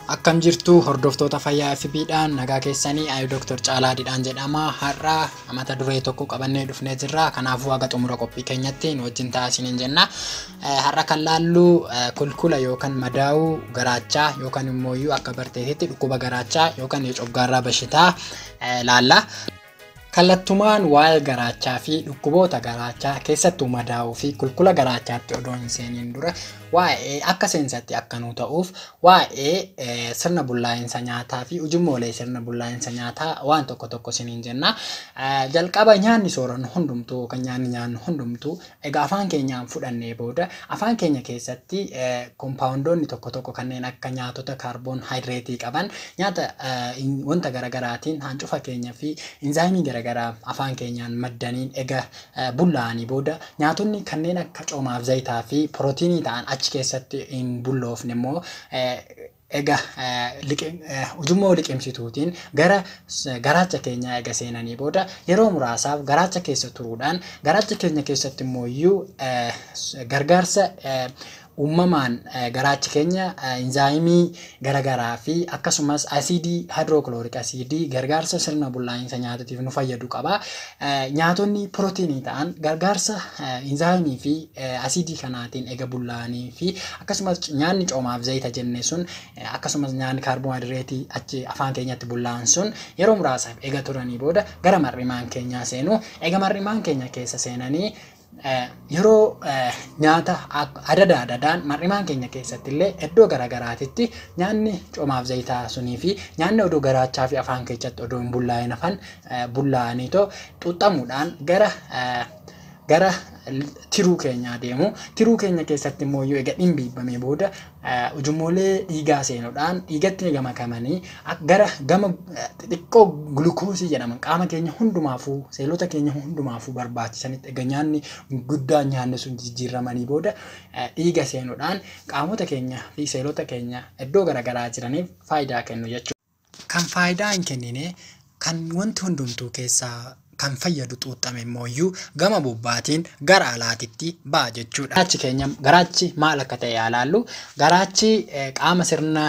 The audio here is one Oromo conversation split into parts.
Akkam jirtu hordoftoota fayyaa FB'dhaan nagaa keessanii ayu Dr. Caalaa Didhaan jedhama. Har'a mata duree tokko qabannee dhufnee jirra. Kanaafuu haga xumura qophii keenyatti nu wajjin ta'a isiniin jenna. Har'a kan laallu kulkula yookan madaa'uu garaachaa yookan immoo iyyuu akka barteetitti dhukkuba garaachaa yookan coggaarraa bashitaa laalla. Kallattumaan waa'ee garaachaa fi dhukkuboota garaachaa keessattuu madaa'uu fi kulkula garaachaatti odoo hin seeniin dura waa'ee akka seensatti akka nuu ta'uuf waa'ee sirna bullaa'insa nyaataa fi ujummoolee sirna bullaa'insa nyaataa waan tokko tokko isiniin jenna. Jalqaba nyaanni soorannu hundumtuu yookan nyaanni nyaannu hundumtuu Egaa afaan keenyaan fudhannee booda, afaan keenya keessatti kompaawundoonni tokko tokko kanneen akka nyaatota kaarboon hayidireetii qaban nyaata wanta gara garaatiin haancufa keenya fi inzaayimii gara garaa afaan keenyaan maddaniin ega bullaa'anii booda nyaatonni kanneen akka coomaaf zayitaa fi pirootiinii ta'an achi keessatti hin bulloofne immoo Egaa ujummoo liqimsituutiin gara garaacha keenyaa eega seenanii booda yeroo muraasaaf garaacha keessa turuudhaan garaacha keenya keessatti immooyyuu gargaarsa uummamaan garaachi keenya inzaayimii garagaraa fi akkasumas asiidii haayidirookilooriik asiidii gargaarsa sirna bullaa'insa nyaatatiif nu fayyadu qaba. Nyaatonni pirootiinii ta'an gargaarsa inzaayimii fi asiidii kanaatiin eega bullaa'anii fi Akkasumas nyaanni coomaaf zayita jenne sun akkasumas nyaanni kaarboohayidireetii achi afaan keenyatti bullaa'an sun yeroo muraasaaf ega turanii booda gara mar'imaan keenyaa seenu. Ega mar'imaan keenya keessa seenanii yeroo nyaata adada adadaan mar'imaan keenya keessatti illee iddoo gara garaatitti nyaanni coomaaf zayitaa sunii fi nyaanni odoo garaachaa fi afaan keechatti odoo hin bullaa'in hafan bullaa'aniitoo xuuxxamuudhaan gara gara tiruu keenyaa deemu. Tiruu keenya keessatti immoo yoo ega dhimbiibbamee booda ujummoolee dhiigaa seenuudhaan dhiigatti ega makamanii gara gama xixiqqoo gulukoosii jedhaman qaama keenya hundumaafuu seelota keenya hundumaafuu barbaachisanitti ega nyaanni guddaan nyaanne sun jijjiirramanii booda dhiiga seenuudhaan qaamota keenya fi seelota keenya iddoo garaagaraa jiraniif faayidaa kennu jechuudha. Kan faayidaa hin kennine, kan wanti hundumtuu keessaa kan fayyadu xuuxxame immoo iyyuu gama bobbaatiin gara alaatitti ba'a jechuudha. Garaachi keenya garaachi maal akka ta'e haa ilaallu. Garaachi qaama sirna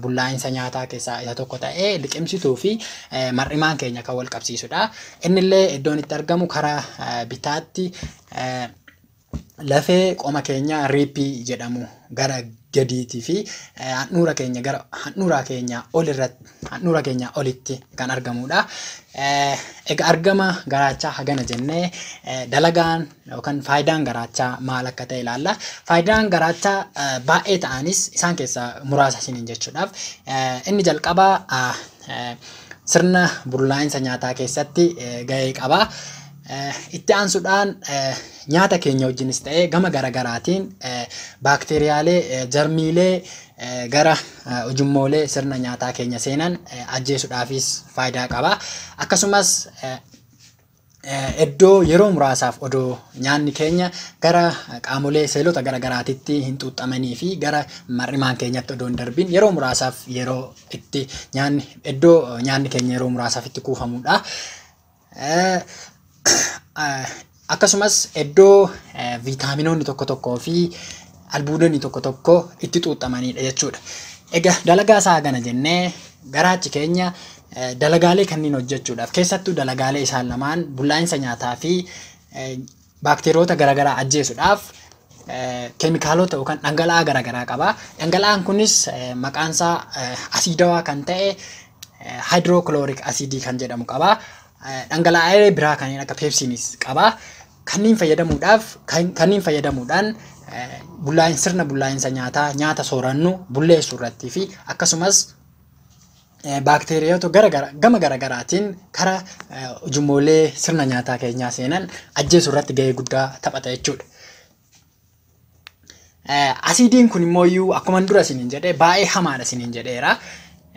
bullaa'insa nyaataa keessaa isa tokko ta'ee liqimsituu fi mar'imaan keenya kan wal qabsiisudha. Inni illee iddoon itti argamu karaa bitaatti Lafee qoma keenyaa riippii jedhamu gara gadiitii fi eh, handhuura keenya gara handhuuraa keenyaa ol irratti handhuura keenyaa olitti kan argamudha. Eh, Egaa argama garaachaa hagana jennee eh, dalagaan yookaan faayidaan garaachaa maal akka ta'e ilaalla. Faayidaan garaachaa eh, baay'ee ta'anis isaan keessaa muraasa isiniin jechuudhaaf eh, inni jalqabaa ah, eh, sirna bullaa'insa nyaataa keessatti eh, gahee qaba. Itti aansudhaan nyaata keenya wajjinis ta'ee gama garagaraatiin baakteeriyaalee, jarmiilee gara ujummoolee sirna nyaataa keenya seenan ajjeesudhaafis faayidaa qaba. Akkasumas iddoo yeroo muraasaaf odoo nyaanni keenya gara qaamolee seelota garagaraatitti hin xuuxxamanii fi gara mar'imaan keenyatti odoo hin darbin yeroo muraasaaf yeroo itti nyaanni iddoo nyaanni keenya yeroo muraasaaf itti kuufamudha. Akkasumas iddoo viitaaminoonni tokko tokkoo fi albuudonni tokko tokko itti xuuxxamanidha jechuudha. Egaa dalagaa isaa kana jennee garaachi keenya dalagaalee kanneen hojjechuudhaaf keessattuu dalagaalee isaan lamaan bullaa'insa nyaataa fi baakteeriyoota garaagaraa ajjeesudhaaf keemikaalota yookaan dhangala'aa garaagaraa qaba. Dhangala'aan kunis maqaan isaa asiidawaa kan ta'e haayidirookilooriik asiidii kan jedhamu qaba. Dhangala'aalee biraa kanneen akka peepsiinis qaba. Kanneen fayyadamuudhaaf kanneen fayyadamuudhaan bullaa'in sirna bullaa'insa nyaataa nyaata soorannu bulleessuu irratti fi akkasumas baakteeriyoota gara gara gama gara garaatiin kara ujummoolee sirna nyaataa keenyaa seenan ajjeesuu irratti gahee guddaa taphata jechuudha. Asiidiin kun immoo iyyuu akkuma dura isiniin jedhee baay'ee hamaadha isiniin jedheera.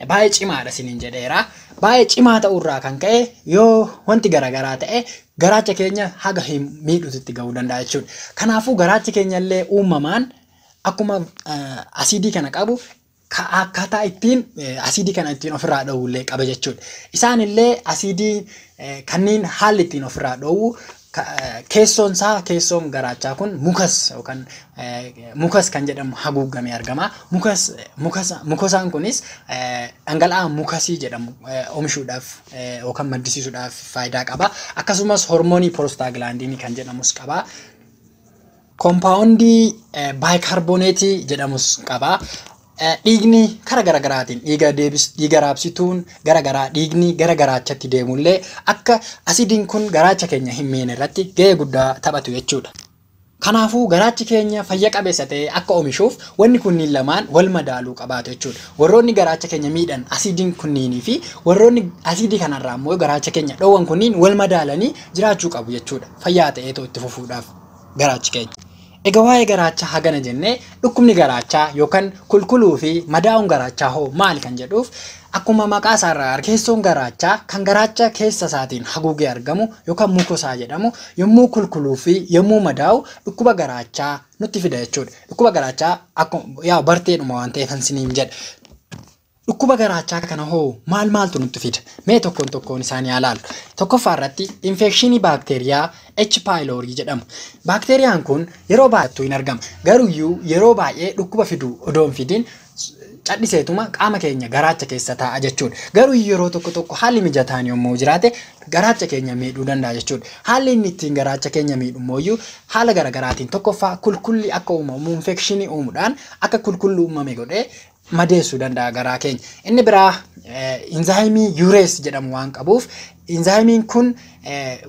Baay'ee cimaadha isiniin jedheera. Baay'ee cimaa ta'uu irraa kan ka'e yoo wanti garaagaraa ta'e garaacha keenya haga hin miidhuutti ga'uu danda'a jechuudha. Kanaafuu garaachi keenya illee uumamaan akkuma asiidii kana qabu ka akkaataa ittiin eh, asiidii kana ittiin ofirraa dhoowwu illee qaba jechuudha. Isaan illee asiidii eh, kanneen haalli ittiin ofirraa dhoowwu ka- eh, keessoon isaa keessoon garaachaa kun mukas yookaan eh, mukas kan jedhamu haguuggamee argama. Mukas eh, mukasa mukosaan kunis eh, dhangala'aa mukasii jedhamu eh, oomishuudhaaf eh, yookaan maddisiisuudhaaf faayidaa qaba. Akkasumas hormoonii piroostaaglaandiinii kan jedhamus qaba. Kompaawundii baayikaarbooneetii jedhamus qaba. Dhiigni kara gara garaatiin dhiiga deebis dhiiga raabsituun gara garaa dhiigni gara garaachatti deemullee akka asidiin kun garaacha keenya hin miine irratti gahee guddaa taphatu jechuudha. Kanaafuu garaachi keenya fayya qabeessa ta'ee akka omishuuf wanni kunniin lamaan wal madaaluu qabaatu jechuudha. Warroonni garaacha keenya miidhan asidiin kunniinii fi warroonni asidii kanarraa immoo garaacha keenya dhoowwan kunniin wal madaalanii jiraachuu qabu jechuudha. Fayyaa ta'eetoo itti fufuudhaaf. Garaachi keenya. Egaa waa'ee garaachaa hagana jennee dhukkubni garaachaa yookaan kulkuluu fi madaa'uun garaachaa hoo maali kan jedhuuf akkuma maqaa isaa irraa arginu keessoon garaachaa kan garaacha keessa isaatiin haguugee argamu yookaan mukosaa jedhamu yommuu kulkuluu fi yommuu madaa'u dhukkuba garaachaa nutti fida jechuudha. Dhukkuba garaachaa akkuma yaa barteedhuma waan ta'eef kan isiniin jedhe. Dhukkuba garaachaa kana hoo maal maaltu nutti fida? Mee tokkoon tokkoon isaanii haa laallu. Tokkoffaa irratti infeekshinii baakteeriyaa H. pylori jedhamu. Baakteeriyaan kun yeroo baay'attuu hin argama. Garuyyuu yeroo baay'ee dhukkuba fidu odoo hin fidiin cadhiseetuma qaama keenya garaacha keessa taa'a jechuudha. Garuu yeroo tokko tokko haalli mijataan yommuu jiraate garaacha keenya miidhuu danda'a jechuudha. Haalli inni ittiin garaacha keenya miidhu immoo haala garaagaraatiin tokkoffaa kulkulli akka uumamu infeekshinii uumuudhaan akka kulkulli uumame godhee madeessuu danda'a garaa keenya. Inni biraa inzaayimii yuurees jedhamu waan qabuuf inzaayimiin kun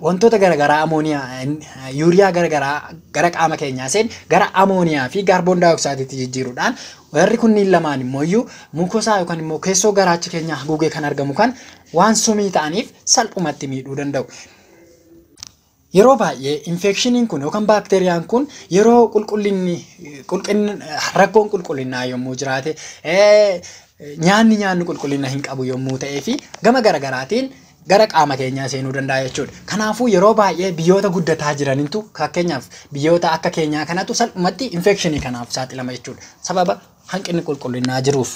wantoota garaagaraa amooniyaa yuuriyaa garaagaraa gara qaama keenyaa seen gara amooniyaa fi kaarboon daayoksaaydiitti jijjiiruudhaan warri kunniin lamaan immoo iyyuu mukosaa yookaan immoo keessoo garaacha keenyaa haguugee kan argamu kan waan sumii ta'aniif salphumatti miidhuu danda'u. Yeroo baay'ee infeekshiniin kun yookaan baakteeriyaan kun yeroo qulqullinni rakkoon qulqullinnaa yommuu jiraate nyaanni nyaanni qulqullina hin qabu yommuu ta'ee fi gama garaagaraatiin gara qaama keenyaa seenuu danda'a jechuudha. Kanaafuu yeroo baay'ee biyyoota guddataa jirantu fakkeenyaaf biyyoota akka keenyaa kanatu salphumatti infeekshinii kanaaf saaxilama jechuudha. Sababa hanqinni qulqullinnaa jiruuf.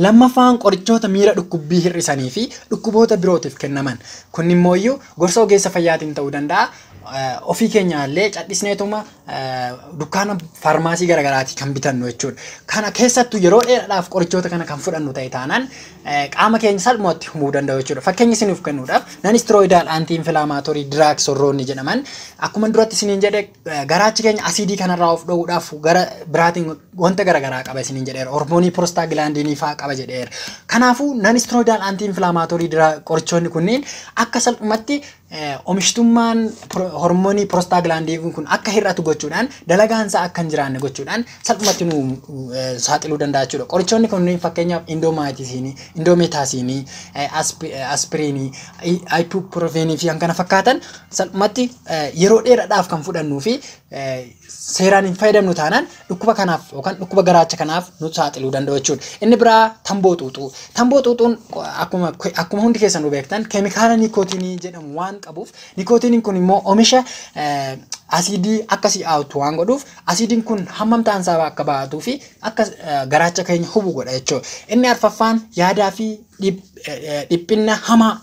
Lammaffaan qorichoota miira dhukkubbii hir'isanii fi dhukkuboota birootiif kennaman. Kunnimmooyyuu gorsa ogeessa fayyaatiin ta'uu danda'a. Ofii keenyaallee cadhisneetuma dukkaana faarmaasii garaagaraatii kan bitannu jechuudha. Kana keessattuu yeroo dheeraadhaaf qorichoota kana kan fudhannu ta'e taanaan qaama keenya salphumatti humuu danda'u jechuudha. Fakkeenya isiniif kennuudhaaf nan istirooyidaal antii infilaamaatorii diraag sorroonni jedhaman akkuma duratti isiniin jedhe Garaachi keenya asiidii kanarraa of dhoowwuudhaaf gara biraatiin wanta garaagaraa qaba isiniin jedheera. Hormoonii prostaa gilaandiinii fa'aa qaba jedheera. Kanaafuu nan istirooyidaal antii infilaamaatoorii qorichoonni kunniin akka salphumatti omishtummaan hormoonii prostaa gilaandii kun akka hir'atu gochuudhaan dalagaan isaa akka hin jiraanne gochuudhaan salphumatti nu saaxiluu danda'a jechuudha. Qorichoonni kunniin fakkeenyaaf indoomaayitisiinii, indoomeetaasiinii, aspiriinii, ayipuupiroofeenii fi kan kana fakkaatan Salphumatti yeroo dheeraadhaaf kan fudhannuu fi seeraan hin fayyadamnu taanaan dhukkuba kanaaf yookaan dhukkuba garaacha kanaaf nu saaxiluu danda'u jechuudha. Inni biraa tamboo xuuxuu. Tamboo xuuxuun akkuma akkuma hundi keessan nu beektan keemikaala nikootiinii jedhamu waan qabuuf nikootiiniin kun immoo oomisha asiidii akka si'aawtu waan godhuuf asiidiin kun hammam ta'an isaa akka ba'atuu fi akka garaacha keenya hubu godha jechuudha. Inni arfaffaan yaadaa fi dhiphinna hamaa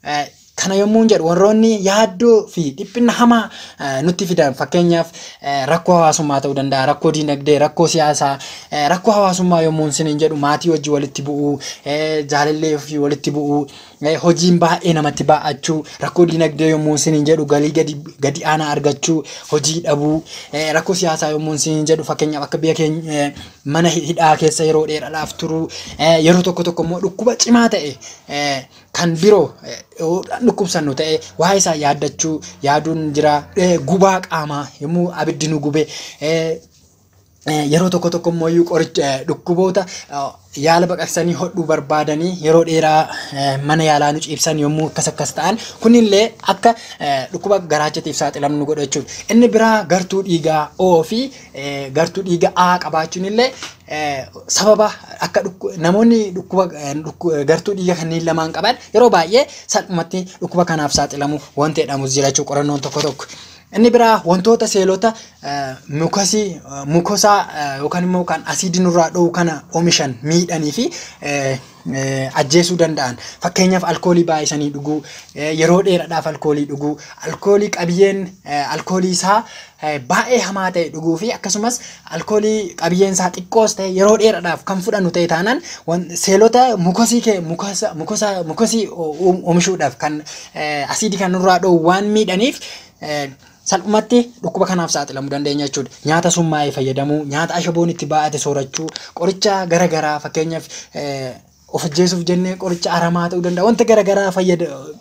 Eh, Kana yommuun jedhu warroonni yaaddoo fi dhiphinna hamaa eh, nutti fidan fakkeenyaaf eh, rakkoo hawaasummaa ta'uu danda'a, rakkoo diinagdee, rakkoo siyaasaa, eh, rakkoo hawaasummaa yommuun siniin jedhu maatii wajji walitti bu'uu, eh, jaalallee ofii walitti bu'uu, eh, hojiin baay'ee namatti baay'achuu, rakkoo diinagdee yommuun siniin jedhu galii gadi, gadi aanaa argachuu, hojii dhabuu, eh, rakkoo siyaasaa yommuun siniin jedhu fakkeenyaaf akka biyya keenya eh, mana hidhaa keessa yeroo dheeraadhaaf turuu, eh, yeroo tokko tokko immoo dhukkuba cimaa ta'e eh, kan biroo yoo dhukkubsannu ta'e waa'ee isaa yaaddachuu yaaduun jira Eh, gubaa qaamaa yommuu abiddi nu gube eh, Eh, yeroo tokko tokko immoo iyyuu qoricha eh, dhukkuboota eh, yaala baqaqsanii hodhuu barbaadanii yeroo dheeraa eh, mana yaalaa nu ciibsan yommuu akkas akkas ta'an kunillee akka eh, dhukkuba garaachatiif saaxilamnu nu godha jechuudha. Inni biraa gartuu dhiigaa O fi eh, gartuu dhiigaa A qabaachuun illee sababa akka namoonni dhukkuba gartuu dhiiga kanneen lamaan qaban yeroo baay'ee salphumatti dhukkuba kanaaf saaxilamu wanti jedhamus jira jechuudha qorannoon tokko tokko. Inni biraa wantoota seelota mukasii mukosaa yookaan immoo kan asiidii nurraa dho'u kana oomishan miidhanii fi ajjeesuu danda'an. Fakkeenyaaf alkoolii baay'isanii dhuguu, yeroo dheeraadhaaf alkoolii dhuguu, alkoolii qabiyyeen alkoolii isaa baay'ee hamaa ta'e dhuguu fi akkasumas alkoolii qabiyyeen isaa xiqqoos ta'e yeroo dheeraadhaaf kan fudhannu ta'e taanaan seelota mukosii kee mukosii oomishuudhaaf kan asiidii kan nurraa dhoowwu waan miidhaniif salphumatti dhukkuba kanaaf saaxilamuu dandeenya jechuudha. Nyaata summaa'e fayyadamuu, nyaata ashaboon itti baay'ate soorachuu, qoricha gara garaa fakkeenyaaf of ajjeesuuf jennee qoricha aramaa ta'uu danda'a. Wanta gara garaa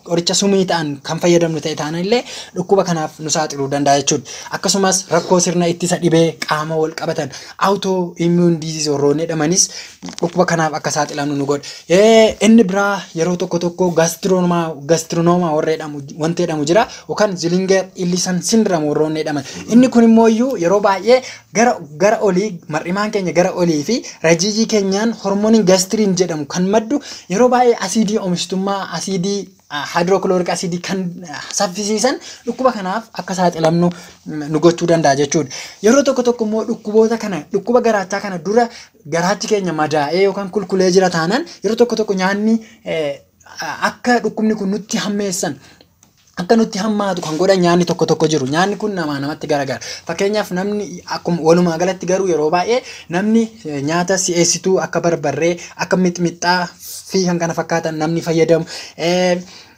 qoricha sumii ta'an kan fayyadamnu ta'e taanaan illee dhukkuba kanaaf nu saaxiluu danda'a jechuudha. Akkasumas rakkoo sirna ittisa dhibee qaama wal qabatan auto immune disease warroonni jedhamanis dhukkuba kanaaf akka saaxilamnu nu godha. Inni biraa yeroo tokko tokko gastironomaa warra jedhamu wanti jedhamu jira. yookaan zilinger illisan sindiram warroonni jedhaman. Inni kun immoo iyyuu yeroo baay'ee gara gara olii mar'imaan keenya gara olii fi rajiijii keenyaan hormooniin gastiriin jedhamu kan maddu yeroo baay'ee asiidii oomishtummaa asiidii haayidirookilooriik asiidii kan saffisiisan dhukkuba kanaaf akka saaxilamnu nu gochuu danda'a jechuudha. Yeroo tokko tokko immoo dhukkuboota kana dhukkuba garaachaa kana dura garaachi keenya madaa'ee yookaan kulkulee jira taanaan yeroo tokko tokko nyaanni akka dhukkubni kun nutti hammeessan akka nutti hammaatu kan godhan nyaanni tokko tokko jiru. Nyaanni kun namaa namatti garagara. Fakkeenyaaf namni akkuma walumaa galatti garuu yeroo baay'ee namni eh, nyaata si'eessituu akka barbarree, akka mixmixxaa fi kan kana fakkaatan namni fayyadamu. Eh,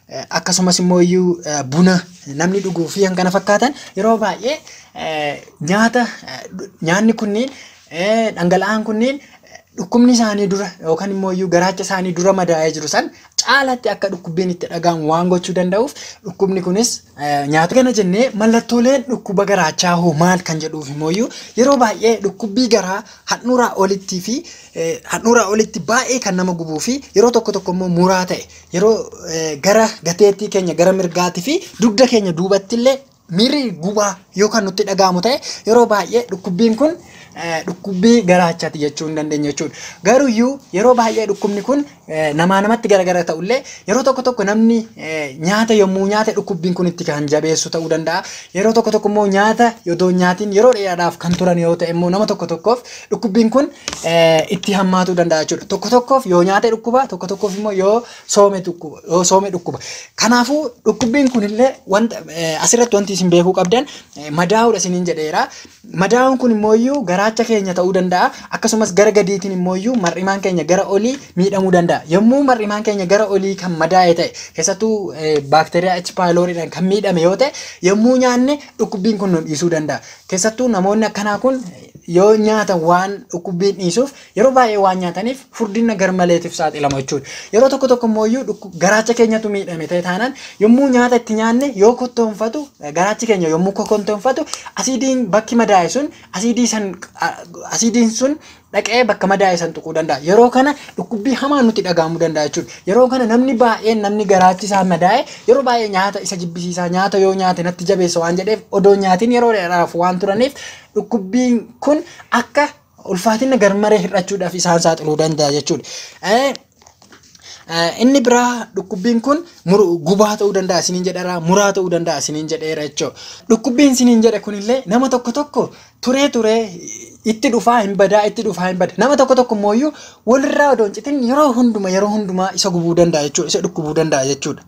eh, Akkasumas immoo iyyuu eh, buna namni dhuguu fi kan kana fakkaatan yeroo baay'ee eh, nyaata eh, nyaanni kunniin eh, dhangala'aan kunniin dhukkubni isaanii dura yookaan immoo iyyuu garaacha isaanii dura madaa'ee jiru san caalatti akka dhukkubbiin itti dhaga'amu waan gochuu danda'uuf dhukkubni kunis nyaata kana jennee mallattooleen dhukkuba garaachaa hoo maal kan jedhuuf immoo iyyuu yeroo baay'ee dhukkubbii garaa handhuuraa olittii fi handhuuraa olitti baay'ee kan nama gubuu fi yeroo tokko tokko immoo muraa ta'e yeroo gara gateettii keenya gara mirgaatii fi dugda keenya duubatti illee Miirri gubaa yoo kan nutti dhaga'amu ta'e yeroo baay'ee dhukkubbiin kun eh, dhukkubbii garaachaati jechuu hin dandeenye jechuudha. Garuu iyyuu yeroo baay'ee dhukkubni kun eh, namaa namatti garagara ta'ullee yeroo tokko tokko namni eh, nyaata yommuu nyaate dhukkubbiin kun itti kan jabeessu ta'uu danda'a. Yeroo tokko tokko immoo nyaata yodoon nyaatiin yeroo dheeraadhaaf kan turan yoo ta'e immoo nama tokko tokkoof dhukkubbiin kun eh, itti hammaatuu danda'a jechuudha. Tokko tokkoof yoo nyaate dhukkuba tokko tokkoof immoo yoo Soome dhukkuba. Yoo soome dhukkuba. Kanaafuu dhukkubbiin kunillee wanta eh, asirratti wanti isin beekuu qabdan eh, madaa'uudha isiniin jedheera. Madaa'uun kun immoo iyyuu garaacha keenya ta'uu danda'a. Akkasumas gara gadiitiin immoo iyyuu mar'imaan keenya gara olii miidhamuu danda'a. Yommuu mar'imaan keenya gara olii kan madaa'e ta'e keessattuu eh, baakteeriyaa H. pyloriidhaan kan miidhame yoo ta'e yommuu nyaanne dhukkubbiin kun nu dhiisuu danda'a. Keessattuu namoonni akkanaa kun yoo nyaatan waan dhukkubbiin dhiisuuf Yeroo baay'ee waan nyaataniif furdinna garmaleetiif saaxilamu jechuudha. Yeroo tokko tokko immoo iyyuu dhukku- garaacha keenyatu miidhame ta'e taanaan yommuu nyaata itti nyaanne yoo kottoonfatu eh, garaachi keenya yommuu kokontoonfatu asiidiin bakki madaa'e sun asiidii san a- asiidiin sun dhaqee bakka madaa'e san tuquu danda'a. Yeroo kana dhukkubbii hamaa nutti dhaga'amuu danda'a jechuudha. Yeroo kana namni baay'een namni garaachi isaa madaa'e yeroo baay'ee nyaata isa jibbisiisaa nyaata yoo nyaate natti jabeessa waan jedheef odoo nyaatiin yeroo dheeraaf waan turaniif dhukkubbiin kun akka ulfaatina garmaree hir'achuudhaaf isaan saaxiluu danda'a jechuudha. Eh, eh, Inni biraa dhukkubbiin kun mur- gubaa ta'uu danda'a isiniin jedheera muraa ta'uu danda'a isiniin jedheera jechuudha. Dhukkubbiin isiniin jedhe kunillee nama tokko tokko turee turee itti dhufaa hin badaa itti dhufaa hin bada nama tokko tokko immoo iyyuu walirraa odoo hin citin yeroo hunduma yeroo hundumaa isa gubuu danda'a jechuudha isa dhukkubuu danda'a jechuudha.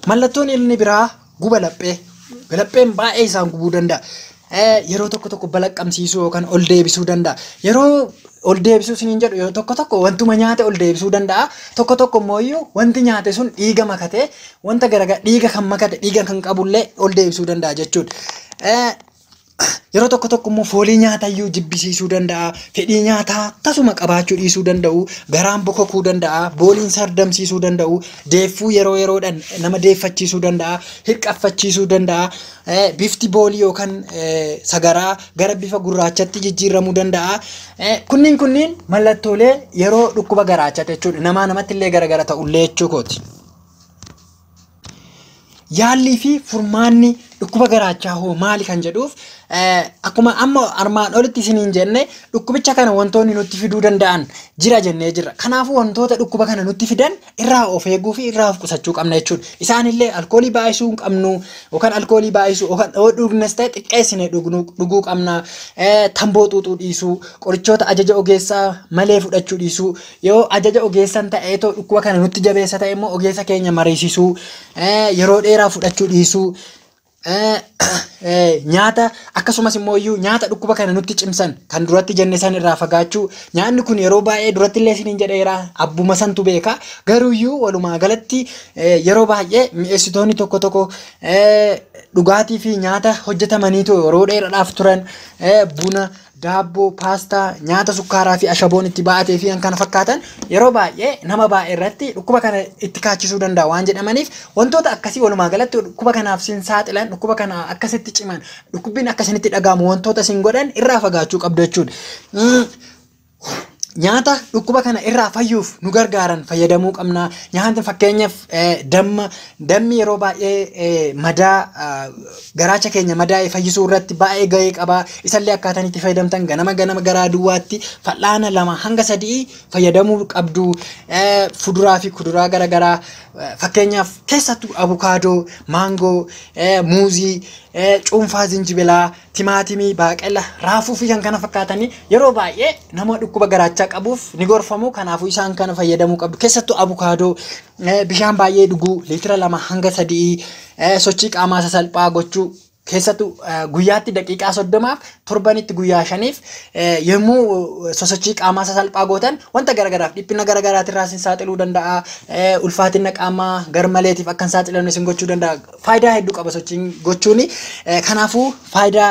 Mallattoon inni biraa guba laphee. Lapheen baay'ee isaan gubuu danda'a. Yeroo tokko tokko balaqqamsiisuu yookaan ol deebisuu danda'a. Yeroo ol deebisuu isiniin jedhu yeroo tokko tokko wantuma nyaate ol deebisuu danda'a. Tokko tokko immoo iyyuu wanti nyaate sun dhiiga makatee wanta garaagaraa dhiiga kan makate dhiiga kan qabullee ol deebisuu danda'a jechuudha. Yeroo tokko tokko immoo foolii nyaataa iyyuu jibbisiisuu danda'a. Fedhii nyaataa tasuma qabaachuu dhiisuu danda'u. Garaan bokokuu danda'a. Booliin sardamsiisuu danda'u. Deeffuu yeroo yeroodhaan nama deeffachiisuu danda'a. Hirqaffachiisuu danda'a. Eh, Bifti boolii yookaan eh, sagaraa gara bifa gurraachatti jijjiiramuu danda'a. Eh, Kunniin kunniin mallattoolee yeroo dhukkuba garaachaati jechuudha. Namaa namatti illee garagara ta'ullee jechuu kooti. Yaallii fi furmaanni dhukkuba garaachaa hoo maali kan jedhuuf akkuma amma armaan olitti isiniin jenne dhukkubicha kana wantoonni nutti fiduu danda'an jira jennee jirra. Kanaafuu wantoota dhukkuba kana nutti fidan irraa of eeguu fi irraa of qusachuu qabna jechuudha. Isaanillee alkoolii baay'isuu hin qabnu yookaan alkoolii baay'isuu yookaan yoo dhugnes ta'e xiqqeessine dhuguu qabna. Tamboo xuuxuu dhiisuu, qorichoota ajaja ogeessaa malee fudhachuu dhiisuu. Yoo ajaja ogeessan ta'eetoo dhukkuba kana nutti jabeessa ta'e immoo ogeessa keenya mariisisuu, yeroo dheeraa fudhachuu dhiisuu, nyaata akkasumas immoo iyyuu nyaata dhukkuba kana nutti cimsan kan duratti jenne san irraa fagaachuu nyaanni kun yeroo baay'ee duratti illee isiniin jedheera abbuma santu beeka garuu iyyuu walumaa galatti yeroo baay'ee mi'eessitoonni tokko tokko dhugaatii fi nyaata hojjetamaniitu yeroo dheeraadhaaf turan buna daabboo, paastaa, nyaata sukkaaraa fi ashaboon itti baatee fi kan kana fakkaatan yeroo baay'ee nama baay'ee irratti dhukkuba kana itti kaachisuu danda'a waan jedhamaniif wantoota akkasii walumaa galatti dhukkuba kanaaf sin saaxilan dhukkuba kana akkasitti ciman dhukkubbiin akkasinitti dhaga'amu wantoota sin godhan irraa fagaachuu qabdu jechuudha. Mm. Nyaata dhukkuba kana irraa fayyuuf nu gargaaran fayyadamuu qabna. Nyaata fakkeenyaaf eh, damma dammi yeroo baay'ee eh, madaa ah, Garaacha keenya madaa'e fayyisuu irratti baay'ee gahee qaba. Isallee akkaataan itti fayyadamtan ganama ganama garaa duwwaatti fal'aana lama hanga sadii fayyadamuu qabdu. Fuduraa fi kuduraa gara garaa fakkeenyaaf keessattuu abukaadoo, maangoo, muuzii, cuunfaa zinjibilaa, timaatimii, baaqela, raafuu fi kan kana fakkaatanii yeroo baay'ee nama dhukkuba garaachaa qabuuf ni gorfamu. Kanaafuu isaan kana fayyadamuu qabdu. Keessattuu abukaadoo bishaan baay'ee dhuguu liitira lama hanga sadii Eh, sochii qaamaa sasalphaa gochuu keessattuu eh, guyyaatti daqiiqaa soddomaaf torbanitti guyyaa shaniif eh, yommuu eh, sosochii qaamaa sasalphaa gootan wanta garagaraaf dhiphina garagaraatiirraa isin saaxiluu danda'a eh, ulfaatina qaamaa garmaleetiif akka hin saaxilamne isin gochuu danda'a faayidaa hedduu qaba sochiin gochuuni eh, kanaafuu faayidaa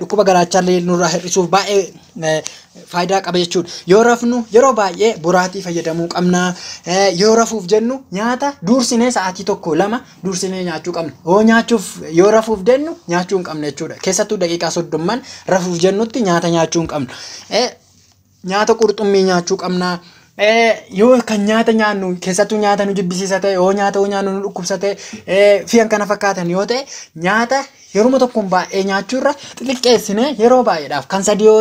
dhukkuba garaachaallee nurraa hir'isuuf baay'ee faayidaa qaba jechuudha. Yoo rafnu yeroo baay'ee boraatii fayyadamuu qabna. Yoo rafuuf jennu nyaata duursinee sa'aatii tokko lama duursinee nyaachuu qabna. Yoo nyaachuuf yoo rafuuf jennu nyaachuu hin qabna jechuudha. Keessattuu daqiiqaa soddomman rafuuf jennutti nyaata nyaachuu hin qabnu. nyaata qurxummii nyaachuu qabna. Yoo kan nyaata nyaannu keessattuu nyaata nu jibbisiisa ta'e yoo nyaata yoo nyaannu nu dhukkubsa ta'e fi kan kana fakkaatan yoo ta'e nyaata yeruma tokkoon baay'ee nyaachuu irra xixiqqeessine yeroo baay'eedhaaf kan sadii yoo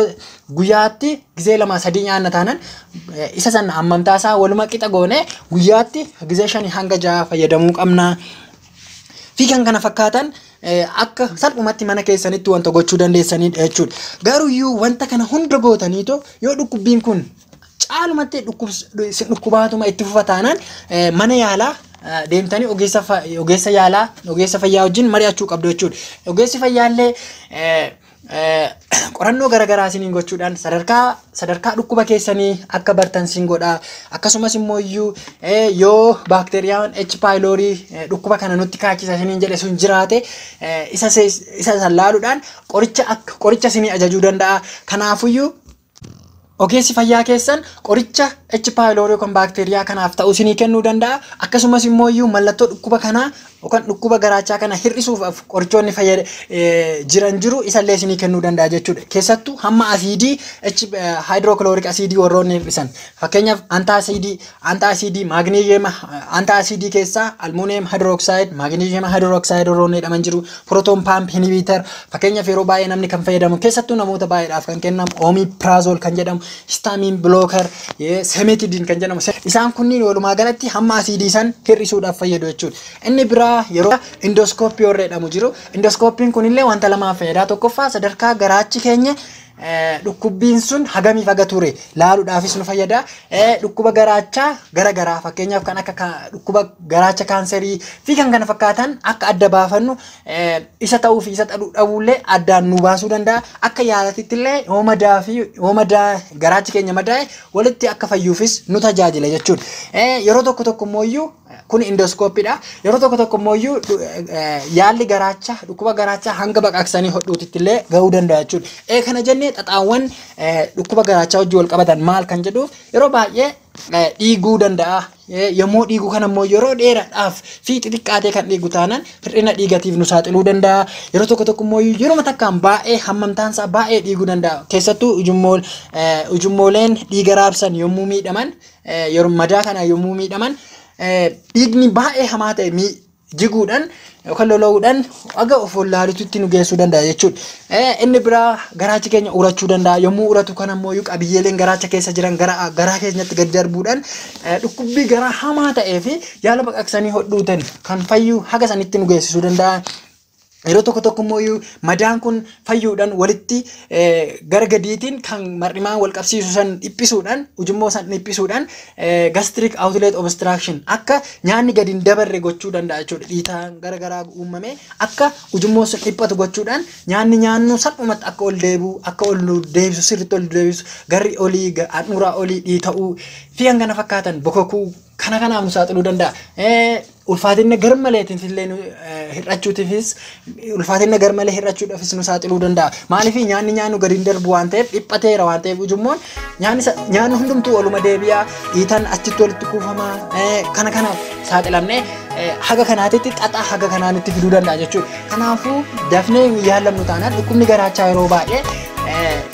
guyyaatti gizee lama sadii nyaanna taanan isa sana hammamtaa isaa waluma qixa goone guyyaatti gizee shanii hanga ja'a fayyadamuu qabna. fi kan kana fakkaatan akka salphumatti mana keessanitti wanta gochuu dandeessanidha jechuudha. Garuyyuu wanta kana hunda gootaniito yoo dhukkubbiin kun caalumatti dhukkubaatuma itti fufa taanaan mana yaalaa deemtanii ogeessa ogeessa yaalaa ogeessa fayyaa wajjin mari'achuu qabdu jechuudha. Ogeessi fayyaallee qorannoo garagaraa isiniin gochuudhaan sadarkaa sadarkaa dhukkuba keessanii akka bartan siin godha akkasumas immoo iyyuu yoo baakteeriyaan H paayiloorii dhukkuba kana nutti kaachisa isiniin jedhe sun jiraate isa isa laaluudhaan qoricha akka qoricha isinii ajajuu danda'a kanaafuyyuu Ogeessi fayyaa keessan qoricha H. pylori yookaan baakteeriyaa kanaaf ta'u isinii kennuu danda'a. Akkasumas immoo iyyuu mallattoo dhukkuba kanaa yookaan dhukkuba garaachaa kana hir'isuuf qorichoonni fayyada jiran jiru isallee isinii kennuu danda'a jechuudha. Keessattuu hamma asiidii H hydrochloric asiidii warroonni hir'isan fakkeenyaaf antaa asiidii Antaasiidii maagneeziyema antaasiidii keessaa almuuniyem hidrooksaayiid maagneeziyema hidrooksaayiid warroonni jedhaman jiru pirootoon paamp hinibiitar fakkeenyaaf yeroo baay'ee namni kan fayyadamu keessattuu namoota baay'eedhaaf kan kennamu oomii piraazool kan jedhamu histaamiin bilookar seemetidiin kan jedhamu isaan kunniin walumaa galatti hamma asiidii san hir'isuudhaaf fayyadu jechuudha. Inni biraa yeroo indooskooppii warra jedhamu jiru indooskooppiin kunillee wanta lamaa fayyada tokkoffaa sadarkaa garaachi keenya Dhukkubbiin sun hagamiif haga ture laaluudhaafis nu fayyada. Dhukkuba garaachaa gara garaa fakkeenyaaf kan akka dhukkuba garaacha kaanserii fi kan kana fakkaatan akka adda baafannu isa ta'uu fi isa dhabuullee addaan nu baasuu danda'a. Akka yaalatitti illee yoo madaa fi yoo madaa garaachi keenya madaa'e walitti akka fayyuufis nu tajaajila jechuudha. Yeroo tokko tokko immoo iyyuu Kun indooskooppiidha. Yeroo tokko tokko immoo iyyuu yaalli garaachaa dhukkuba garaachaa hanga baqaqsanii hodhuutitti illee gahuu danda'a jechuudha. Ee kana jennee xaxaawwan dhukkuba garaachaa wajjin wal qabatan maal kan jedhu yeroo baay'ee dhiiguu danda'a. Yommuu dhiiguu kana immoo yeroo dheeraadhaaf fi xixiqqaatee kan dhiigu taanaan hir'ina dhiigatiif nu saaxiluu danda'a. Yeroo tokko tokko immoo yeroo takkaan baay'ee hammamtaan isaa baay'ee dhiiguu danda'a. Keessattuu ujummooleen dhiiga raabsan yommuu miidhaman Yeroo madaa kana yommuu miidhaman dhiigni baay'ee hamaa ta'e jiguudhaan yookaan lola'uudhaan aga of wallaaluutti nu geessuu danda'a jechuudha. Inni biraa garaachi keenya urachuu danda'a. Yommuu uratu kana immoo qabiyyeeleen garaacha keessa jiran garaa keenyatti gad darbuudhaan dhukkubbii garaa hamaa ta'ee fi yaala baqaqsanii hodhuutiin kan fayyuu haga sanitti nu geessisuu danda'a. Yeroo tokko tokko immoo iyyuu madaan kun fayyuudhaan walitti eh, gara gadiitiin kan mar'imaan wal qabsiisu san dhiphisuudhaan ujummoo san dhiphisuudhaan eh, gastric outlet obstruction akka nyaanni gadi hin dabarre gochuu danda'a jechuudha. Dhiitaan gara garaa uumamee akka ujummoo sun dhiphatu gochuudhaan nyaanni nyaannu salphumatti akka ol deebi'u akka ol nu deebisu sirriitti ol deebisu garri olii ga- handhuuraa olii dhiita'uu fi kan kana fakkaatan bokokuu kana kanaaf nu saaxiluu danda'a. Eh, Ulfaatinna garmaleetiif illee nu eh, hir'achuutiifis ulfaatinna garmalee hir'achuudhaafis nu saaxiluu danda'a. Maaliif nyaanni nyaannu gadi hin darbu waan ta'eef dhiphateera waan ta'eef ujummoon nyaanni sa- nyaanni hundumtuu oluma deebi'a dhiitan achitti walitti kuufama eh, kana kanaaf saaxilamnee eh, haga kanaatitti xaxaa haga kanaa nutti fiduu danda'a jechuudha. Kanaafuu dafnee hin yaalamnu taanaan dhukkubni garaachaa yeroo baay'ee eh,